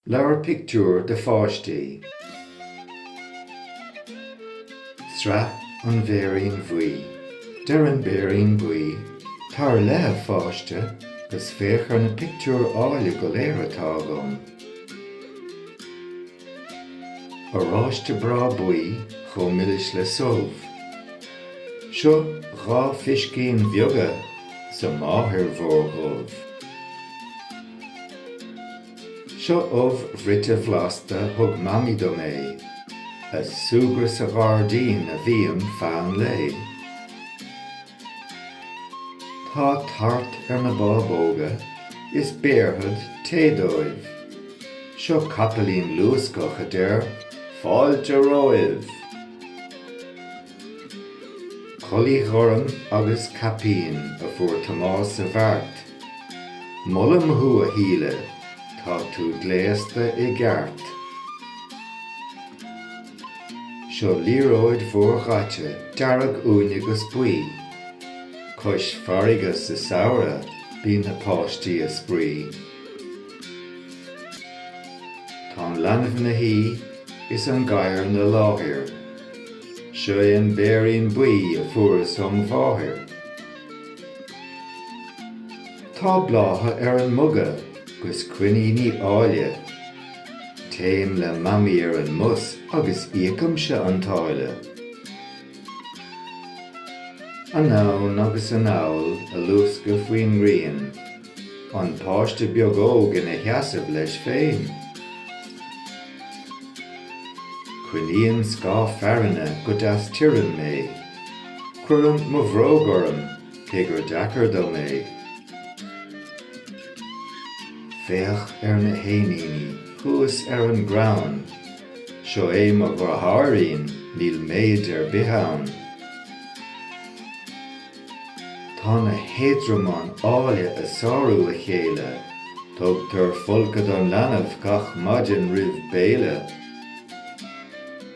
Leabhar pictiúr do pháistí. Sraith An Bhéirín Bhuí. Deir an Béirín Buí, 'Tar i leith a pháiste 'gus féach ar na pictiúir áille go léir atá agam. Oráiste breá buí chomh milis le subh. Seo dhá phiscín bheaga 's a máthair mhór dhubh. Seo ubh bhruite bhlasta thug Mamaí dom é, ag súgradh sa ghairdín a bhím feadh an lae. Tá tart ar na bábóga is béarfad tae dóibh. Seo capaillín luascach a deir fáilte romhaibh! Culaith ghorm agus caipín a fuair Tomás sa bheart. Molaim thú a Shíle, tá tú gléasta i gceart. Seo liathróid mhór dhaite dearg uaine agus buí. Cois farraige sa samhradh bíonn na páistí a' spraoi. Tá an leanbh ina shuí is an gadhar ina láthair. Seo é an béirín buí a fuaireas óm' mháthair. Tá blátha ar an muga 'gus coiníní áille. Téim le Mamaí ar an mbus agus íocaimse an táille. Anonn agus anall, ag luascadh faoin ngrian, an páiste beag óg ina sheasamh leis féin. Coinníonn scáth fearthainne go deas tirim mé. Cuirim mo bhróg orm, cé gur deacair dom é. Féach ar na héiníní thuas ar an gcrann. Seo é mo dheartháirín, níl méid ar bith ann. Tá na héadromáin áille ag sárú a chéile. Tugtar folcadh don leanbh gach maidin roimh béile.